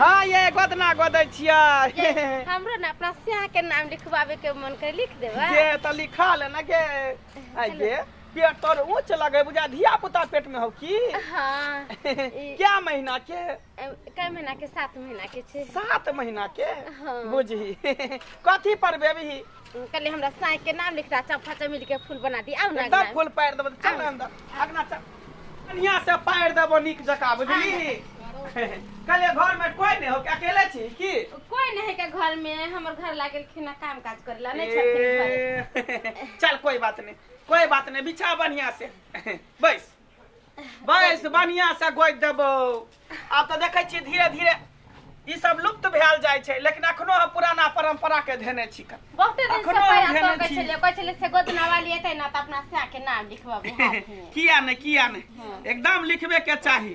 हाँ ये गोदना गोदै छियै हमरो ने अपना स्याह के नाम लिखवावे के मन कर लिख देबा जे त लिखा ले ना के आइ गे पेट तोर ऊंच लगे बुझा धिया पुता पेट में हो की हाँ ई- क्या महीना के अ, कई महीना के सात महीना के छे सात महीना के हाँ। बुझी कथी पर बेबी कहले हमरा साई के नाम लिख रहा चंपा चमेली के फूल बना दी आउ ना एकदम अंगना। फूल पारि देबो चल ना अंदर अगना चल बढ़िया से पारि देबो नीक जका बुझली कहले घर में कोई नहीं हो के अकेले छी की कोई नहीं के घर में हमर घर लागल खिना काम काज करेला नहीं छथिन घर ए, चल कोई बात नहीं कोई बात नहीं बिछा बढ़िया से बैस बैस बढ़िया से गोद देबो आब तऽ देखै छियै धीरे धीरे ई सब लुप्त भेल जाइ छै लेकिन अखनो हम पुराना परंपरा के धेने छी कन। बहुते दिन से अखनो हम पहिला धेने कहै छी। छलियै कहै छलियै से गोदना वाली एतै ना तऽ अपना सैह के नाम लिखबबै हाथमे किया ने किया ने एकदम लिखबे के चाही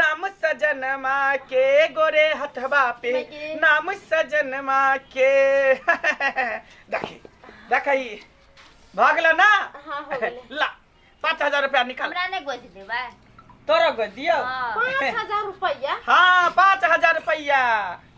नाम सजनमा के गोरे हथवा पे लगे। नाम सजनमा के देखी देखी भागल ना हाँ हो गेले ला पाँच हजार रुपया निकाल हमरा ने गोद देबा तोरा गो दियो हाँ। पाँच हजार रुपया हाँ पाँच हजार रुपया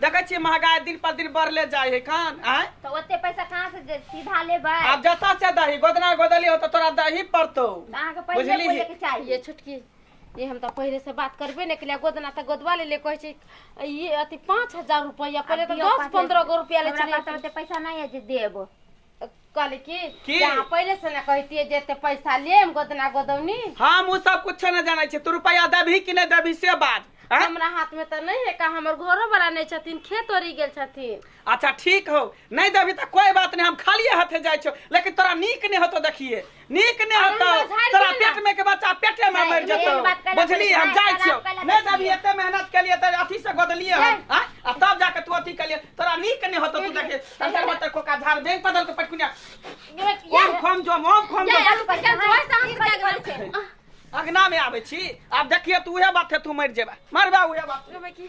देखै छियै महगाई दिन पर दिन बढ़ले जाइ है खान आय तो ओते पैसा कहाँ से दे- सीधा लेबै आब जतऽ से दही गोदना गोदली हो तऽ तोरा दही पड़तौ तऽ अहाँके पहिले बुझलिही? बोले के चाहिए ये छोटकी ये हम तो पहले से बात करबे नहीं कलिया गोदना तो गोदवा ले ले कहे छी ये अति पाँच हजार रुपया पहले तो दियो दस पाँच पंद्रह गो रुपया ले हमरा पास चलिए ओते पैसा नहीं है जे देब कहली कि की? जे अहाँ पहिले से ना कहतिए जे एते पैसा लेम गोदना गोदौनी हम उ सब कुछ न जानै छी तू रुपया देबही कि नै देबही से बात हैं? हमरा हाथ में तो नहीं है का हमर घरो वाला नहीं छथिन खेत ओरी गेल छथिन अच्छा ठीक हो नहीं देबही त कोई बात नहीं हम खालिए हाथे जाइ छौ लेकिन तोरा नीक नहीं होतो देखिए नीक नहि अरुणा होतौ झाड़ि तोरा दिअ ने। पेट में के बच्चा पेटे में मरि जेतौ मेन बात कहलक, बुझली हम झाड़ि जाइ कऽ छियौ राख कऽ नहि जब एते मेहनत केलिए त अथी से गोदलिए हम आ आ तब जाके तू अथी केलिए तोरा नीक नहि होतौ तू देखे अंदर में तक कोका झाड़ बैंक बदल के पटकुनिया ओम खोम जो ओम खोम जो जा, रुपा, जा, जोर से हम क्या करै छै? अंगना में आबै छी आब देखिए तू उहे बात है तू मरि जेबा मरबा उहे बात ओहिमे की?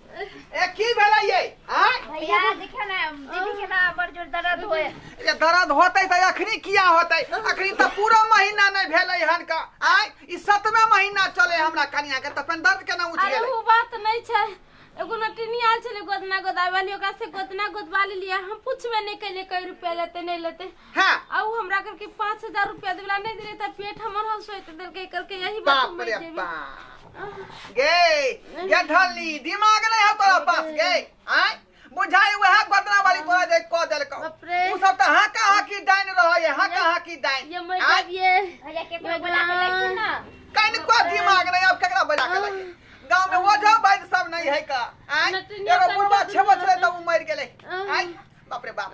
ए की भेलै ये आय भैया देखियो ना दीदी के ना बड़ जोर दर्द होए ये दर्द होतै तऽ अखनी किया होतै अखनी तऽ पूरा महीना नहि भेलै हन का आय ई सतमे महीना चले हमरा कनिया के तऽ अपन दर्द केना उठि अरे गेलै वो बात नहीं छै एगो नटिनी आयल छले गोदना गोदावे वाली ओकरा से गोदना गोदवा लेलिए हम पूछबे नहीं कैले कई रुपया लेते नहीं लेते हाँ आउ हमरा करके पाँच हजार रुपया देवला नहीं दिले त पेट हमर हल सोइत दिल के करके यही बात बाप रे बाप गे या ढली दिमाग नहीं है तोरा पास गे आय बुझाई वह गोदना वाली तोरा जे क देल को बाप रे। उ सब त हां का हां की डाइन रह ये हां का हां की डाइन ये मैं आय, जब ये भैया के कोई बुला के लेखी ना कहीं को दिमाग नहीं अब केकरा बजा के लगे गांव में वो जो भाई सब नहीं है का आय नटनिया एगो बुढ़वा सब छेबो छले त उ मर गेले आय बाप रे बाप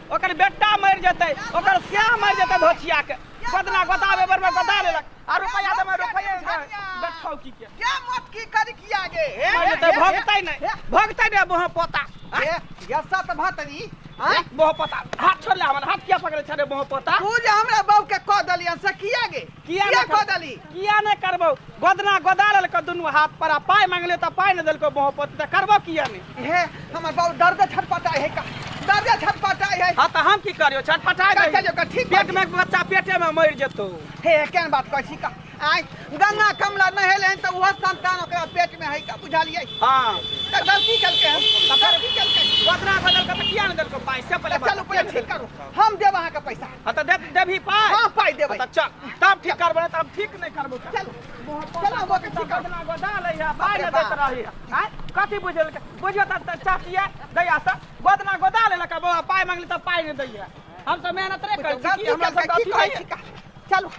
ओकर बेटा मरि जेतै ओकर श्याह मरि जेतै धोछिया के बदला गोता बेबर में गोता लेलक आ रुपया दे में रुपया दे बैठौ की के क्या मत की करी किया गे हे, मरि हे, जेतै हे, भगतै हे, नहि भगतै नहि बह पोता हे, हे, यस्सा तऽ भतरी आँय? बह पोता हाथ छोड़ ले हमर हाथ किया पकड़े छे रे बह पोता तू जे हमरा बहू के कह देलियन से किया गे किया किया कऽ देली किया नहि करबौ गोदना गोदा लेलकौ दुनू हाथ पर आ पाइ मांगले तऽ पाइ नहि देलकौ बहु पोती तऽ करबौ किया नहि हे हमर बाबू दर्द छटपटा है का दर्द छटपटा है हँ तऽ हम की करियो छटपटा कर चलियो, कर, ठीक पेट में बच्चा पेटे में मरि जेतौ हे केन बात कहै छी का आय गंगा कमला नहेले हन तऽ ओहो संतान ओकरा पेट में है का बुझलियै हँ तऽ गलती केलकै हन तऽ गलती केलकै गोदना गोदा लेलकौ तऽ किया नहि देलकौ पाइ से पहिले तऽ चलू पहिले ठीक करू हम देब अहाँके पैसा हँ तऽ देख देबही पाइ हँ पाइ देबै तऽ चल तब ठीक करबै नहि तब ठीक नहि करबै चल चलो वो के ठीक करबै गोदा लै है पाइ नहि दैत रही है कथी बुझल बुझियो तऽ चाचिया दैया से गोदना गोदा ले लका बाबा पाइ मांगली तऽ पाइ नहि दैया हम सब मेहनत रे करै छी हमरा सब कथी चलो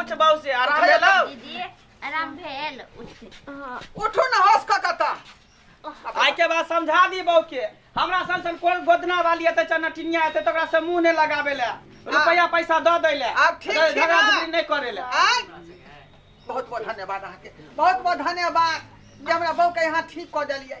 उठ बाबू से आराम उठै भेलौ जाउ दीदी आराम भेल उठ हाँ उठू ने होश कऽ कऽ तऽ आइ के बाद समझा दी बहू के हमरा सन सन कोन गोदना वाली एतै चनटिनिया एतै तऽ ओकरा से मुंह नहि लगाबे ले रुपया पैसा दऽ दै ले आब ठीक छै झगड़ा ने? झगड़ी नहि करे ले आय बहुत बहुत धन्यवाद अहाँके बहुत बहुत धन्यवाद जे हमरा बहूके यहाँ ठीक कऽ देलियै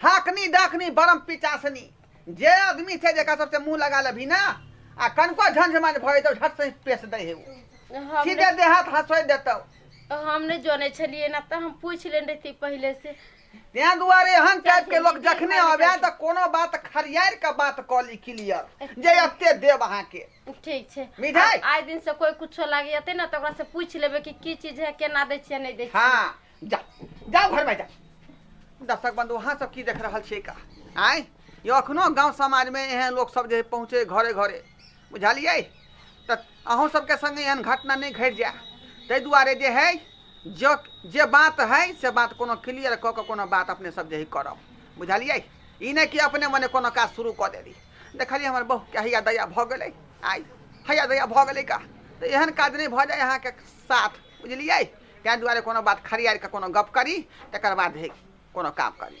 हाकनी डाकनी बरम पिचासनी जे आदमी छै जेकरा सबसे मुंह लगा लेबही ना आ कनको झंझमाझ भए जेतौ झट से पेश दै हे उ। हम सीधे नहि- देहात हंसोइ देतौ हम नहि जनै छलियै ना तऽ हम पूछि लेने रहिती पहिले से तें दुआरे एहन टाइप के लोग जखने आवे तऽ कोनो बात खरियार के बात कऽ ली क्लियर जे एते देब अहाँ के ठीक छै मिठाई? आ- आइ दिन से कोई कुछो लागैते ना तऽ ओकरा से पूछि लेबै कि की चीज है केना दै छियै नहि दै छियै हाँ जा जा घर में जा दर्शक बंधु अहाँ सब की देख रहल छियै का आय यो अखनो गांव समाज में एहन लोग सब जे पहुँचे घरे घरे बुझलियै तऽ अहूँ सबके संगे एहन घटना नहि घटि जाय ताहि दुआरे जे है जो जे बात है से बात कोनो क्लियर कऽ के कोनो बात अपने सब जे है करब बुझलियै ई नहि कि अपने मने कोनो काज शुरू कऽ देली देखलियै हमर बहू के हैया दया भऽ गेलै आइ हैया दया भऽ गेलै का तऽ एहन काज नहि भऽ जाय अहाँके साथ बुझलियै ताहि दुआरे कोनो बात खड़ियारि कऽ कोनो गप्प करी तकर बाद हे कोनो काम करी